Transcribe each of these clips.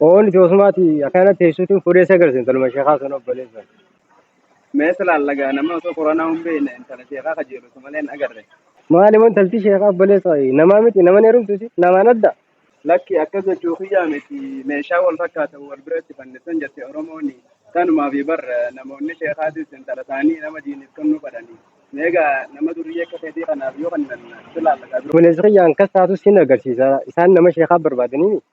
Oon itti osumaati akkana teessuutiin fuudhee isa agarsiisan taluma sheekaa sun obboleessan. Mee silaan lagaa nama osoo koronaa hin beekne intala sheekaa kajeelatu malee hin agarre. Maali wan talti sheekaa obboleessa namaa miti naman heerumtuusi namaan adda. Lakki akkas jechuu kiyyaa miti meeshaa wal fakkaatan wal biratti fannisan jette Oromoon kanumaaf bar namoonni sheekaatis intala isaanii nama diiniif kennuu fadhani. Meegaa nama durrii akka keetii kanaaf yoo kennan silaan lagaa durba. Obboleessi kiyyaan kas taatu sin agarsiisa isaan nama sheekaa barbaadanii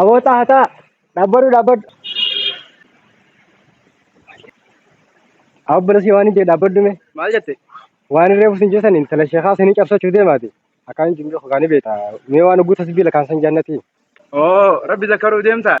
Aboo xaaxaa dhabbadhu dhabbadhu. Abbalasi waan hin jee dhabbadhu mee. Maal jette? Waan hin reefu sin jeesan intala sheekaa sinii cabsachuu deemaati. Akkaan hin jimdee hogaanii beekta. Mee waan oguu tasbiila kaan san jaannati. Oo rabbi zakkaruu deemta.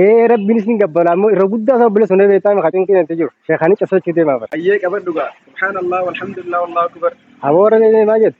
Ee rabbiin isin gabbala ammoo irra guddaa isaa obboleessa hundee beektaa maqaa cinqii natti jiru. Sheekaanii cabsachuu deemaa bara. Ayyee qabadhu gaa. Subhaanallah walhamdulillah wallahu akbar. Aboo warra deemee maal jette?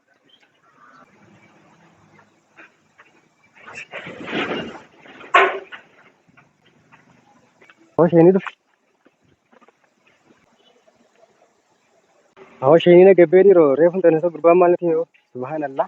Hosheenii dhufe. Hosheenii na gabbee dhiiroo reefu hin tanne gurbaan maal natti himee subhaanallah.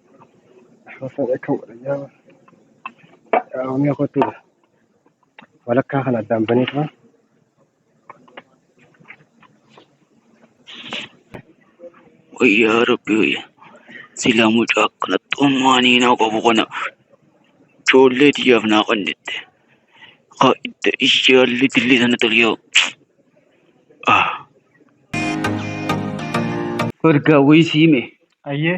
Osoo jechuun godhanii qaamni kootti walakkaa kan addaan banee turan. Wayyaa rabbi wayya. Sila mucaa akkanatti ummaanii naa qabu kana ijoollee tiyyaaf naa qannitte. Haa itti ishee halli dilli sana toliyoo. Ah. Ergaa wayii siime. Ayyee.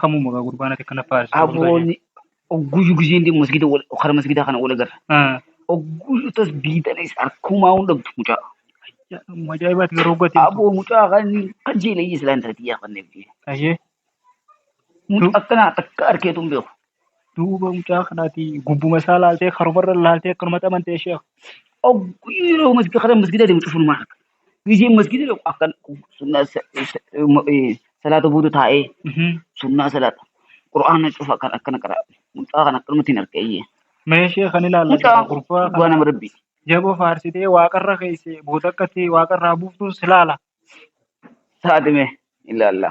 Kamuma gaa gurbaan ati akkana faarsitu wal galee. Abooni ogguyyuu gizeen deemu masgida wal kara masgidaa kana wal agarra. Ah, Ogguyyuu tas biitanis harkumaa hin dhabdu mucaa. yaa, amma Ajaa'ibaati garuu hoggatiin tu. Aboo mucaa kan kan jeela iyya silaa intalatti yaa kan deemti. Ayyee Mucaa akkanaa takka arkeetu hin beeku. duuba mucaa kanaati gubbuma isaa laaltee karumarra laaltee akkanumatti amantee sheekh. Ogguyyuu yeroo masgida kara masgidaa deemu cufunumaa harka. Gisee masgiida dhaqu akkan sunnaa sa- sa- ma- eh, salaata booda taa'ee Mhm. sunnaa salaata qur'aana cufa akkan akkana qara mucaa kan akkanumatti hin argayye Mee sheekh kan ilaalla mucaa jedha gurbaa dhugaa kana nama rabbiiti jaboo faarsitee waaqarra keesse booda akkatti waaqarraa buuftuun si laala. taatime ilaalla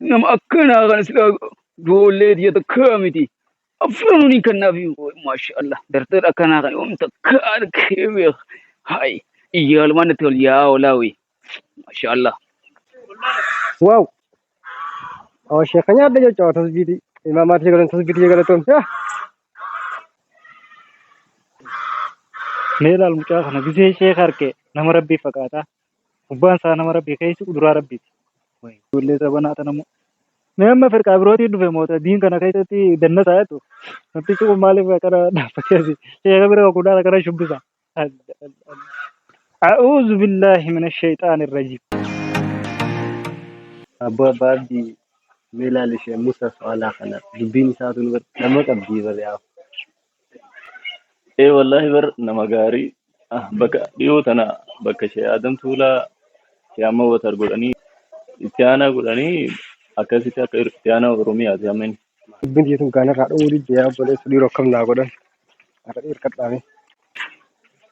Nama akkanaa kana silaa ijoollee tiyya takkaa miti. Afranuun hin kannaaf maasha Allah. Dartar akkanaa kana yoom takka argee beeka. Hayi iyyaalumaan natti tol yaa olaawi. Maasha Allah. Waaw. Oo sheeka nyaadha jechuudha tasbiitii. Ilmaa maatii galan tasbiitii galatoom. Yaa. Mee laal mucaa kana gisee sheeka harkee nama rabbii fakkaata. Gubbaan isaa nama rabbii keessi uduraa rabbiiti. Way ijoollee zabanaa tana moo. Mee amma firqaa birootiin dhufe moo ta- diin kana keessatti dannasaa jettu. Namtichi kun maaliif akkana dhaabbatee asi sheeka bira wakuudhaan akkana shubbisa. Alla alla alla. A'uuzu billaahi mina shayxaani rajiim. Abbaa abbaa abdi mee ilaali ishee Musa Faalaa kana dubbiin isaatu nu bira nama qabdii bari yaa. Ee wallaahi bar nama gaarii ah, bakka dhiyoo tana bakka ishee Adam Tuulaa ishee amma watar godhanii itti aanaa godhanii akkasitti akka itti aanaa Oromiyaati amma inni. Dubbiin tiyya tun gaanarraa dhowwuu didde yaa obboleessa dhiiroo akkam naa godhan har'a dhiirkadhaame.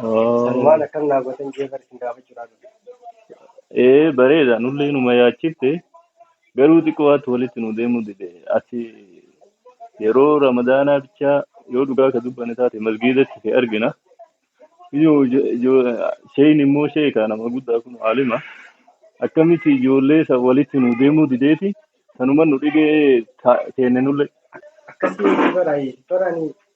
Sanumaan Ah, akkam naa gootan jee bar isin gaafachuudhaa dhufe. Ee bareeda nullee nu mayaachifte garuu xiqqoo ati walitti nu deemuu dide ati yeroo ramadaanaa bichaa yoo dhugaa ka dubbane taate masgiidatti si argina yoo ijo- ijo- sheen immoo sheeka nama guddaa kun aalima akkamitti ijoollee isa walitti nu deemuu dideeti sanuma nu dhibee ta- teenne nullee Akkasii miti bara bara ani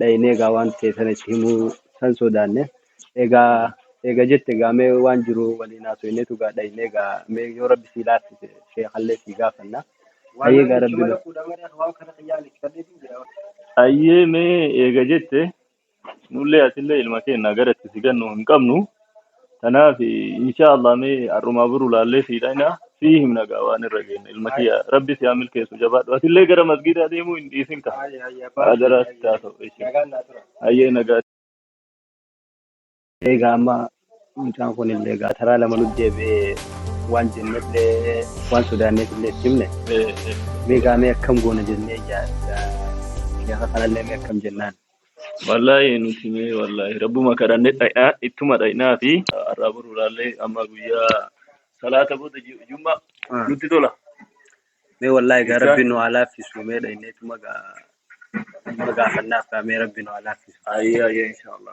dhaynee egaa waan ta'e sana itti himuu san sodaanne egaa eega jette egaa mee waan jiru waliin haasofneetu egaa dhaynee egaa mee yoo rabbi sii laaffise sheekallee sii gaafanna hayyee egaa rabbi nu hayyee mee eega jette nullee atillee ilma keenya gara itti si gannu hin qabnu Kanaaf insha Allah mee har'umaa buru laallee sii dhayna sii himna gaa waan irra geenne ilma kiyya rabbi si haa milkeessu jabaadhu atillee gara masgiidaa deemuu hin dhiisin ka adaraa si haa ta'u ishi hayyee nagaa Egaa amma mucaan kun illee egaa taraa lama nu deebi'ee waan jenne illee waan sodaanneef illee itti himne Eh, eh. mee egaa mee akkam goona jennee yaadda gaafa kanallee mee akkam jennaan. Wallaahi nuti mee wallaahi rabbuma kadhanne dhaqnaa ittuma dhaqnaa fi har'aa boruudhaallee amma guyyaa salaata booda ju- jumma Ah. nutti tola. Mee wallaahi gaa Jecha- rabbi nu haa laaffisu mee dhaqnee ittuma gaa ittuma gaafannaaf gaa mee rabbi nu haa laaffisu. Ayyaa ayyaa inshaallah.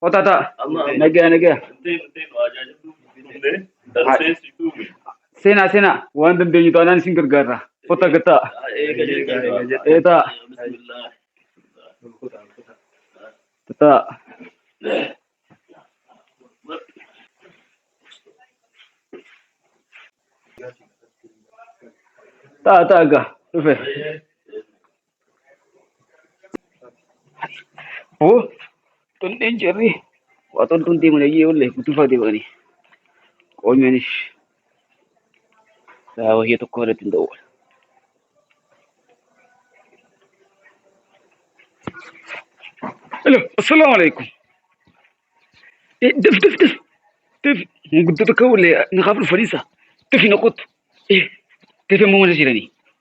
Kota ta. Nagaa nagaa. Sena sena waan dandeenyu taanaan isin gargaarra. Kota gataa. Eeta. Tata. Ta ta ga. Dhufe. Woo xulleen cirri waa xoltuun deeman ayyee wallee gutufaa deemanii qoonyoonis daa wahee tokko irratti hin ta'u. Hello, assalamu alaikum. Eh, def def def def mun guddoo tokko wallee naqaaf dhufaniisa def hin oqotu. Eh, def immoo mana jiranii.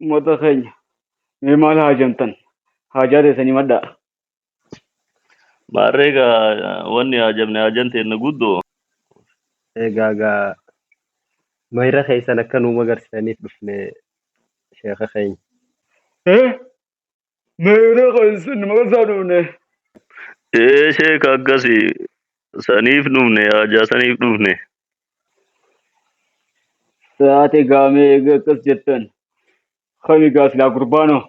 Uummata keenya mee maal haajamtan? Haajaa teessan himadhaa. Maarree egaa wanni haajamne haajan teenna guddoo. Egaa egaa mayra keessan akka nuu magarsitaniif dhufne sheeka keenya. Meeyiree kan isin maqaa isaa dhufne. Ee sheeka akkasi saniif dhufne haajaa saniif dhufne. Saate gaamee eega akkas jettan. Kami gaa silaa gurbaanoo.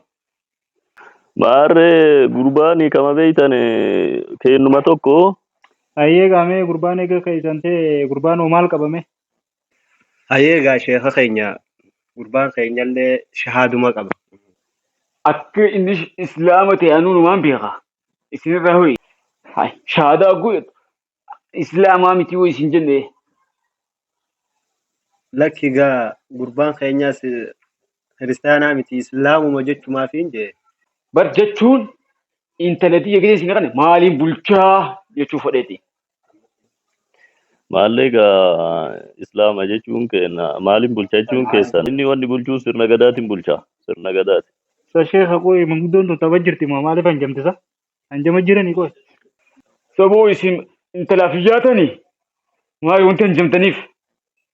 Maarree gurbaani kama beeytan keennuma tokko Ayyee gaamee gurbaan eega keessan ta'e gurbaan hoo maal qabame? Ayee egaa sheeka keenya gurbaan keenyallee shahaaduma qaba. akka inni sh- islaama ta'e anuu numaan beeka isinirraa ho'i Hai, shahaadaa guu jettu islaamaa miti hoo isin jenne Lakki egaa gurbaan keenyaas kiristaanaa miti islaamuma jechumaaf hin jee. bar jechuun intala tiyya gidee isin dhaqne maaliin bulchaa jechuu fudheeti Maallee egaa Islaama jechuun keenya maaliin bulcha jechuun keessan inni wanni bulchuu sirna gadaatiin bulcha sirna gadaati. Sa sheekha qoy manguddoon tun taba jirti moo maaliif hanjamtisa? Hanjama jirani qoy. Saboo isin intalaaf hin yaatani? Maali wanti hanjamtaniif?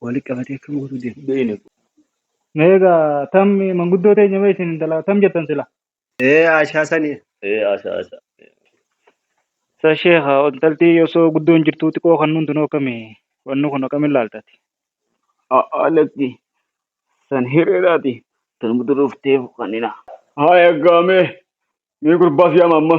Wali qabatee akkam godhu deema. Beeyne. Meega tam manguddoo teenya mee isin intala tam jettan sila. Ee Aashaa sani. Ee Aashaa Aashaa. Sa sheekha intalti osoo guddoon jirtuu xiqqoo kan nuun tunoo akkami wanni kun akkamiin laaltati. A'aa lakki. San hiriiraati. Tan muduruuf teef kanina. Haa eeggaamee. Mee gurbaa siyaama amma.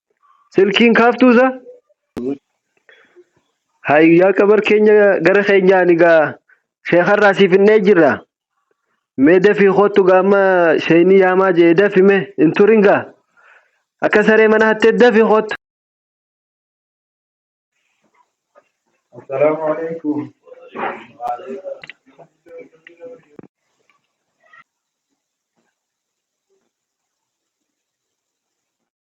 Silkiin kaaftuusa? Hayi yaa qabar keenya gara keenyaan egaa sheekarraa siif hin jirra. Mee dafii kottu gaa amma sheeynii yaamaa jee dafi mee hin turin gaa. Akka saree mana hattee dafi kottu. Assalaamu alaikum.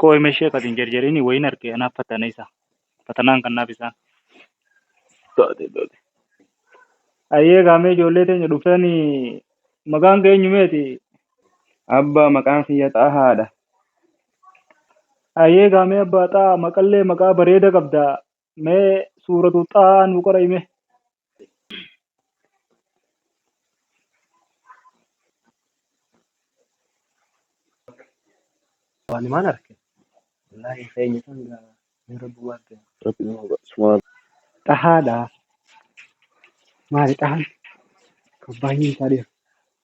Koo hima ishee akkasiin jarjariin wayiin arke anaaf fatana isa. Fatanaan kannaaf isaan. Taate taate. Ayyee gaamee ijoollee teenya dhuftanii maqaan kee eenyumeeti? Abbaa maqaan kiyya xaahaadha. Ayyee gaamee abbaa xaa maqallee maqaa bareeda qabda. mee suuratu xaa nuu qora hime waan himaan arke wallaahi keenya kan gaa mee rabbi waan ta'e rabbi nama subhaan xahaadha maali xahan kan baay'een isaa dheera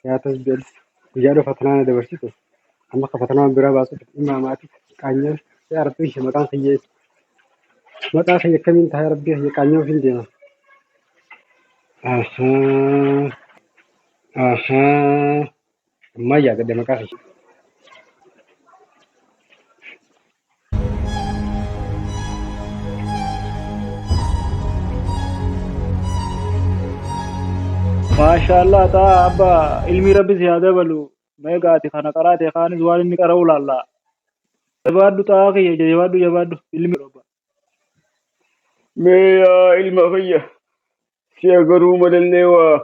Siyaatas jedhu guyyaa dhufa tanaana dabarsitu amma ka fatanaama biraa baasuuf dhimma maati qaanyaan yaa rabbii kiyya maqaan kiyya maqaa kiyya akkamiin ta'a yaa rabbii kiyya qaanyaan ofiin deema. Ahaa ahaa ammaa yaadadhe maqaa kiyya. Maashaallah taa abba ilmii rabbi si haa dabalu meeqa ati kana qaraate kaanis waan inni qara'uu laalla jabaadhu taa kiyya jabaadhu jabaadhu ilmi roba Mee yaa ilma kiyya si'a garuu malallee waa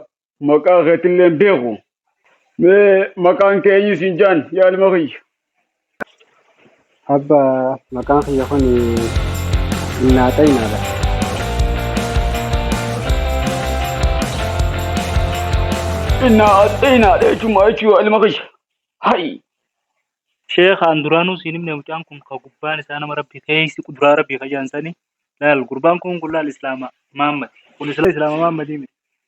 maqaa keetillee hin beeku mee maqaan kee eenyu siin jaan yaa ilma kiyya Abba maqaan kiyya kun innaa xayinaadha. innaa axeenaadha jechuuma jechuu yaa ilma kiyya hayi Sheekh aan duraanuu siin himne mucaan kun ka gubbaan isaa nama rabbi keessi quduraa rabbi ka jaansani laal gurbaan kun kun laal islaama maammati kun islaama islaama maammati miti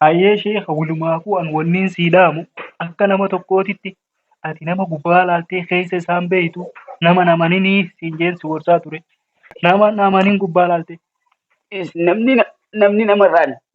Hayyee sheekh walumaafuu an wanniin sii dhaamu akka nama tokkootitti ati nama gubbaa laaltee keessa isaan beeytu nama namaninii siin jeen si gorsaa ture. Nama namanin gubbaa laalte. Is- namni na- namni namarraan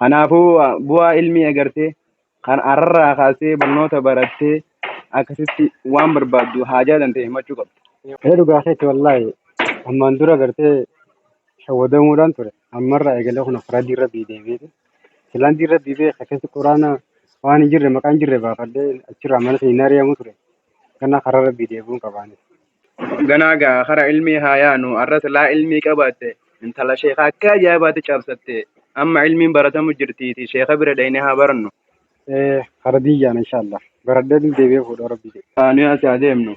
Kanaafuu bu'aa ilmii agartee kan ararraa kaastee barnoota barattee akkasitti waan barbaaddu haajaa dantee himachuu qabda. Ee dhugaa keetti wallaahi ammaan dura gartee shawwadamuudhaan ture ammarraa eegalee kun karaa diin rabbii deebi'eeti silaan diin rabbii beeka keessi quraana waan hin jirre maqaa hin jirre baafadhee achirraa mana hin ari'amu ture kana karaa rabbii deebi'uun qabaanis. Ganaa gaa kara ilmii haa yaanu arra silaa ilmii qabaatte intala sheeka akka ajaa'ibaatti cabsatte amma ilmiin baratamu jirtiiti sheeka bira dhayne haa barannu. Ee hara diyyaan inshallah. Baradhee deebi'ee fuudhoo rabbii jedhe. Haa nuyi asii haa deemnu.